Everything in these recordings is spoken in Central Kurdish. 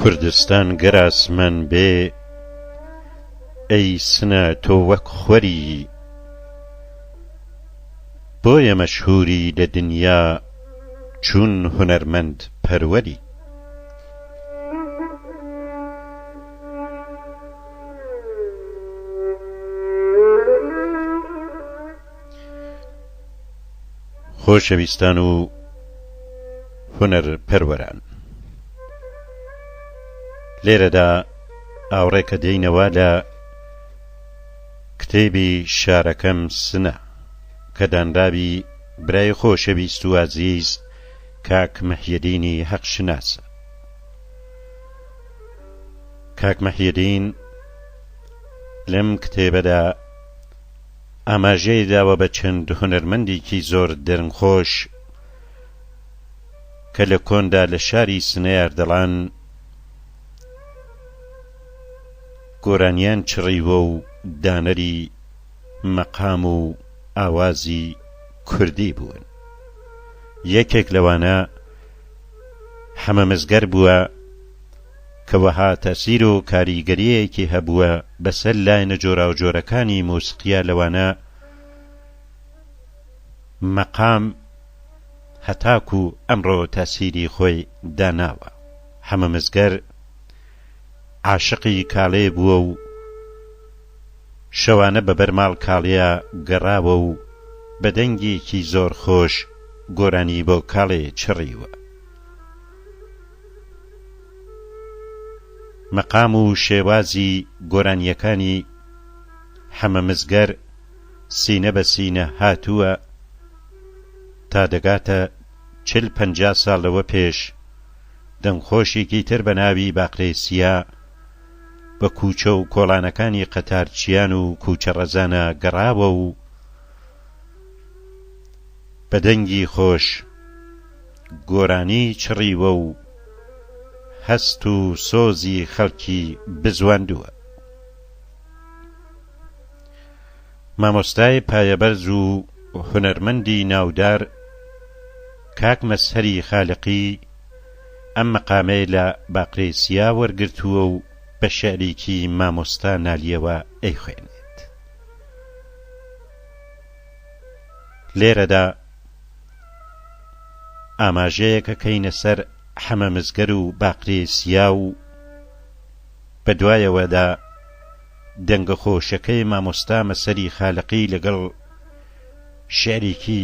کوردستان گەر ئاسمان بێ ئەی سنە تۆ وەک خوەری بۆیە مەشهووری لە دنیا چون هونەرمەند پەروەری. خۆشەویستان و هونەر پەروەران لێرەدا ئاوڕێکە دێینەوە لە کتێبی شارەکەم سنە کە دانراوی برای خۆشەویست و ئازیز کاک محیدینی هەق شناس. کاک محیدین لەم کتێبەدا ئاماژەی داوە بە چەند هونەرمەندێکی زۆر دەنگخۆش کە لە کۆندا لە شاری سنەیار دەڵان گۆرانیان چڕیوە و دانەری مەقام و ئاوازی کوردی بوون یەکێک لەوانە حەمە مزگەر بووە کە وەها تەسیر و کاریگەریەکی هەبووە بەسەر لایەنە جۆراوجۆرەکانی موسقیە لەوانە مەقام هەتاکو ئەمڕۆ تەسیری خۆی داناوە حەمە مزگەر عاشقی کاڵێ بووە و شەوانە بە بەر ماڵکاڵێیا گەڕاوە و بە دەنگێکی زۆر خۆش گۆرانی بۆ کاڵێ چڕیوە. مەقام و شێوازی گۆرانییەکانی حەمە مزگەر سینە بە سینە هاتووە تا دەگاتە چل پەنجا ساڵ لەوە پێش دەنگخۆشێکی تر بە ناوی باقرێ سیا، بە کوچە و کۆڵانەکانی قەتارچیان و کوچە ڕەزانە گەڕاوە و بە دەنگی خۆش گۆرانی چڕیوە و هەست و سۆزی خەڵکی بزواندووە. مامۆستای پایەبەرز و هونەرمەندی ناودار کاک مەزهەری خالقی، ئەم مەقامەی لە باقرەی چیا وەرگرتووە و بە شعرێکی مامۆستا نالیەوە ئەیخوێنێت. لێرەدا ئاماژەیەک ئەکەینە سەر حەمە مزگەر و باقرەی چیا و بە دوایەوەدا دەنگە خۆشەکەی مامۆستا مەسەری خالەقی لەگەڵ شعرێکی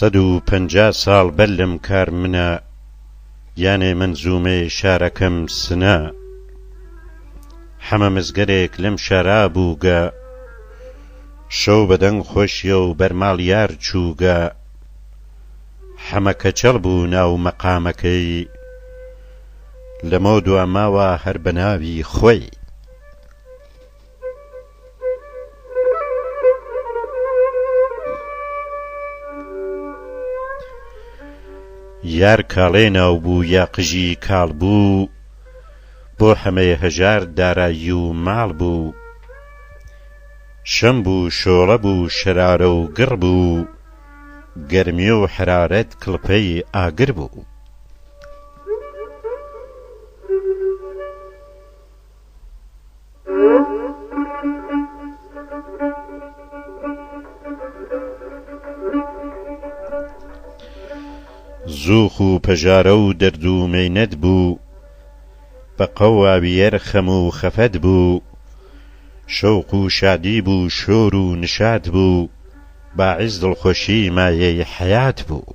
سەد و پەنجا ساڵ بەر لەم کار منە یانێ مەنزوومەی شارەکەم سنە حەمە مزگەرێک لەم شارا بووگە شەو بەدەنگ خۆشیە و بەرماڵ یار چووگە حەمە کەچەڵ بوو ناو مەقامەکەی لەمەو دوا ماوە هەر بە ناوی خۆی. یار کاڵێ ناو بوو یا قژی کاڵ بوو بۆ حەمەێ هەژار دارایی و ماڵ بوو شەم بوو شۆڵە بوو شەرارە و گڕ بوو گەرمی و حەرارەت کڵپەی ئاگر بوو. زووخ و پەژارە و دەرد و مەینەت بوو بە قەواویەر خەم و خەفەت بوو شەوق و شادی بوو شۆر و نشات بوو باعس دڵخۆشی مایەی حەیات بوو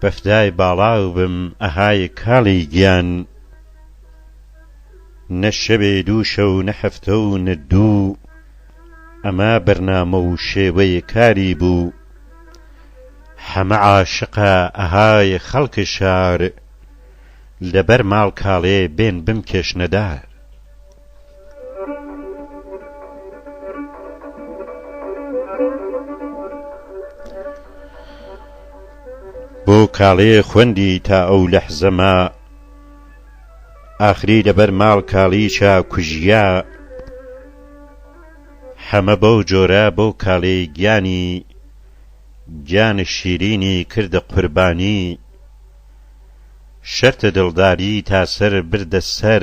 بەفدای باڵاو بم ئەهای کاڵی گیان نە شەوێ دوو شەو نە هەفتە و نە دوو ئەمە بەرنامە و شێوەی کاری بوو حەمە عاشقە ئەهای خەڵک شار لەبەر ماڵ کاڵێ بێن بمکێشنە دار. بۆ کاڵێ خوەندی تا ئەو لەحزە ما ئاخری لە بەر ماڵ کاڵیچا کوژیا حەمە بەو جۆرە بۆ کاڵێ گیانی گیان شیرینی کردە قوربانی شەرتە دڵداری تا سەر بردە سەر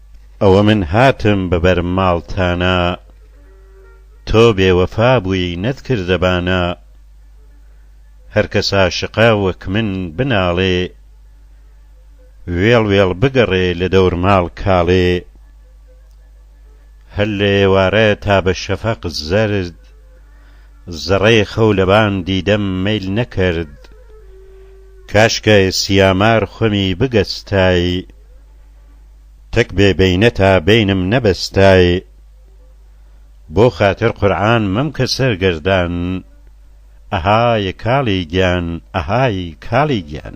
ئەوە من هاتم بە بەر ماڵتانا تۆ بێ وەفا بووی نەت کردە بانا هەر کەس عاشقە وەک من بناڵێ وێڵ وێڵ بگەڕێ لە دەور ماڵ کاڵێ هەر لە ئێوارە تا بە شەفەق زەرد زەڕەی خەو لە بان دیدەم مەیل نەکرد کاشکای سیامار خوەمی بگەستای تەک بێ بەینە تا بەینم نەبەستای بۆ خاتر قورعان مەمکە سەرگەردان ئەهای کاڵی گیان ئەهای کاڵی گیان.